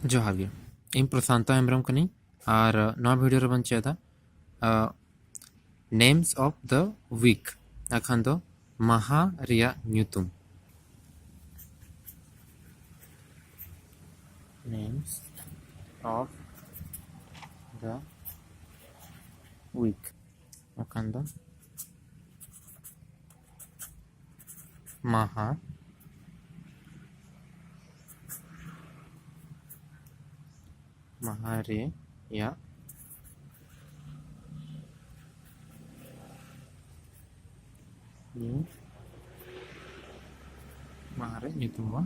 ᱡᱚᱦᱟᱨ ᱜᱮ ᱤᱧ ᱯᱨᱚᱥᱟᱱᱛᱚ ᱦᱮᱢᱵᱨᱚᱢ ᱠᱟᱹᱱᱟᱹᱧ ᱟᱨ ᱱᱚᱣᱟ ᱵᱷᱤᱰᱤᱭᱳ ᱨᱮᱵᱚᱱ ᱪᱮᱫᱟ ᱱᱮᱢᱥ ᱚᱯᱷ ᱫᱟ ᱣᱤᱠ ᱟᱠᱷᱟᱱ ᱫᱚ ᱢᱟᱦᱟ ᱨᱮᱭᱟᱜ ᱧᱩᱛᱩᱢ names of the week. Wakanda. ᱢᱟᱦᱟ ᱢᱟᱦᱟ ᱨᱮᱭᱟᱜ ᱢᱟᱦᱟ ᱨᱮ ᱧᱩᱛᱩᱢ ᱵᱚᱱ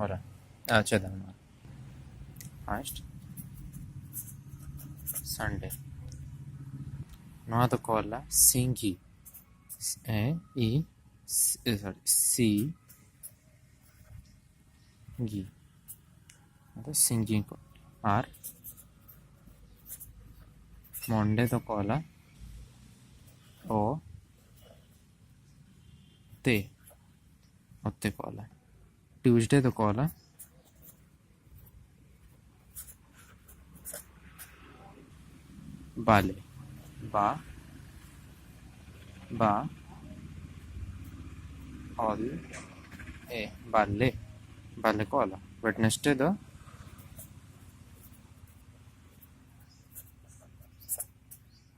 ᱚᱞᱟ ᱟᱪᱪᱷᱟ ᱫᱟᱢᱟ ᱯᱷᱟᱥᱴ ᱥᱟᱱᱰᱮ ᱱᱚᱣᱟ ᱫᱚᱠᱚ ᱚᱞᱟ ᱥᱤᱸᱜᱤ ᱮ ᱤ ᱥᱚᱨᱤ ᱥᱤ ᱜᱤ ᱟᱫᱚ ᱥᱤᱝᱜᱤ ᱠᱚ ᱟᱨ ᱢᱚᱱᱰᱮ ᱫᱚᱠᱚ ᱚᱞᱟ ᱚ ᱛᱮ ᱚᱛᱮ ᱠᱚ ᱚᱞᱟ ᱴᱤᱭᱩᱥᱰᱮ ᱫᱚ ᱠᱚ ᱚᱞᱟ ᱵᱟᱞᱮ ᱵᱟ ᱵᱟ ᱚᱞ ᱮ ᱵᱟᱞᱮ ᱵᱟᱞᱮ ᱠᱚ ᱚᱞᱟ ᱣᱮᱰᱱᱮᱥᱰᱮ ᱫᱚ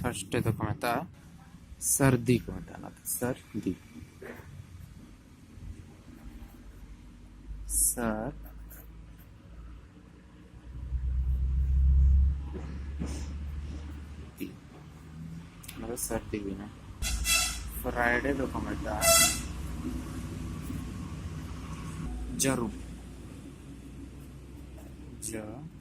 ᱯᱷᱟᱨᱥᱴ ᱰᱮ ᱫᱚᱠᱚ ᱢᱮᱛᱟᱜᱼᱟ ᱥᱟᱹᱨᱫᱤ ᱠᱚ ᱢᱮᱛᱟᱜᱼᱟ ᱚᱱᱟᱛᱮ ᱥᱟᱹᱨᱫᱤ ᱥᱟᱨ ᱚᱱᱟᱫᱚ ᱥᱟᱹᱨᱫᱤ ᱦᱩᱭᱱᱟ ᱯᱷᱨᱟᱭᱰᱮ ᱫᱚᱠᱚ ᱢᱮᱛᱟᱜᱼᱟ ᱡᱟᱹᱨᱩᱢ ᱡᱟᱹᱨᱩᱢ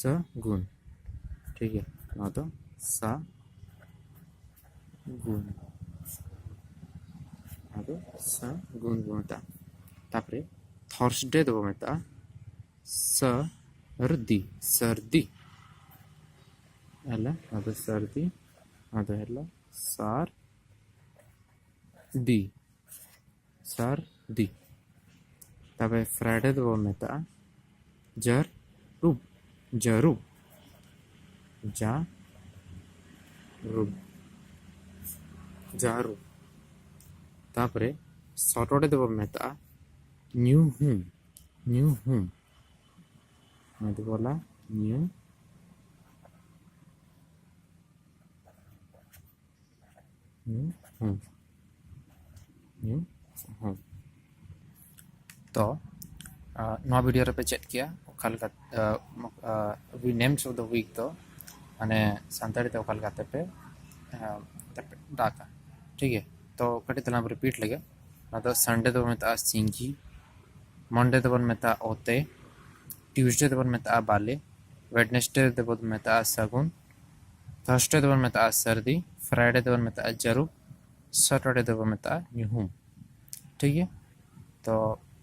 ᱥᱟ ᱜᱩᱱ ᱴᱷᱤᱠ ᱜᱮᱭᱟ ᱱᱚᱣᱟ ᱫᱚ ᱥᱟ ᱜᱩᱱ ᱱᱚᱣᱟ ᱫᱚ ᱥᱟ ᱜᱩᱱ ᱵᱚ ᱢᱮᱛᱟᱜᱼᱟ ᱛᱟᱯᱚᱨᱮ ᱛᱷᱚᱨᱥᱰᱮ ᱫᱚᱵᱚ ᱢᱮᱛᱟᱜᱼᱟ ᱥᱟ ᱨᱫᱤ ᱥᱟᱨᱫᱤ ᱦᱮᱞᱟ ᱱᱚᱣᱟ ᱫᱚ ᱥᱟᱨᱫᱤ ᱱᱚᱣᱟ ᱫᱚ ᱦᱮᱞᱟ ᱥᱟᱨ ᱫᱤ ᱥᱟᱨ ᱫᱤ ᱛᱚᱵᱮ ᱯᱷᱨᱟᱭᱰᱮ ᱫᱚᱵᱚ ᱢᱮᱛᱟᱜᱼᱟ ᱡᱟᱨ ᱨᱩᱵ ᱡᱟᱨᱩᱵ ᱡᱟ ᱨᱩᱵ ᱡᱟᱨᱩᱵ ᱛᱟᱯᱚᱨᱮ ᱥᱟᱴᱚᱨᱰᱮ ᱫᱚᱵᱚ ᱢᱮᱛᱟᱜᱼᱟ ᱧᱩ ᱦᱩᱢ ᱧᱩ ᱦᱩᱢ ᱚᱱᱟ ᱫᱚ ᱵᱚᱞᱟ ᱧᱩ ᱛᱚ ᱱᱚᱣᱟ ᱵᱷᱤᱰᱤᱭᱳ ᱨᱮᱯᱮ ᱪᱮᱫ ᱠᱮᱭᱟ ᱚᱠᱟ ᱞᱮᱠᱟ ᱩᱭ ᱱᱮᱢᱥ ᱚᱯᱷ ᱫᱟ ᱩᱭᱤᱠ ᱫᱚ ᱢᱟᱱᱮ ᱥᱟᱱᱛᱟᱲᱤ ᱛᱮ ᱚᱠᱟ ᱞᱮᱠᱟᱛᱮ ᱯᱮ ᱫᱟᱜᱟ ᱴᱷᱤᱠ ᱜᱮᱭᱟ ᱛᱚ ᱠᱟᱹᱴᱤᱡ ᱛᱟᱞᱟᱝ ᱨᱤᱯᱤᱴ ᱞᱮᱜᱮ ᱟᱫᱚ ᱥᱟᱱᱰᱮ ᱫᱚᱵᱚᱱ ᱢᱮᱛᱟᱜᱼᱟ ᱥᱤᱝᱜᱤ ᱢᱚᱱᱰᱮ ᱫᱚᱵᱚᱱ ᱢᱮᱛᱟᱜᱼᱟ ᱚᱛᱮ ᱴᱤᱭᱩᱥᱰᱮ ᱫᱚᱵᱚᱱ ᱢᱮᱛᱟᱜᱼᱟ ᱵᱟᱞᱮ ᱣᱮᱰᱱᱮᱥᱰᱮ ᱫᱚᱵᱚᱱ ᱢᱮᱛᱟᱜᱼᱟ ᱥᱟᱹᱜᱩᱱ ᱛᱷᱟᱨᱥᱰᱮ ᱫᱚᱵᱚᱱ ᱢᱮᱛᱟᱜᱼᱟ ᱥᱟᱹᱨᱫᱤ ᱯᱷᱨᱟᱭᱰᱮ ᱫᱚᱵᱚᱱ ᱢᱮᱛᱟᱜᱼᱟ ᱡᱟᱹᱨᱩᱵ ᱥᱟᱴᱚᱨᱰᱮ ᱫᱚᱵᱚᱱ ᱢᱮᱛᱟᱜᱼᱟ ᱧᱩᱦᱩᱢ ᱴᱷᱤᱠ ᱜᱮᱭᱟ ᱛᱚ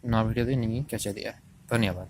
ᱱᱚᱣᱟ ᱵᱷᱤᱰᱤᱭᱳ ᱫᱚ ᱤᱧᱤᱧ ᱠᱮᱪᱮᱫᱮᱜᱼᱟ ᱫᱷᱚᱱᱭᱚᱵᱟᱫᱽ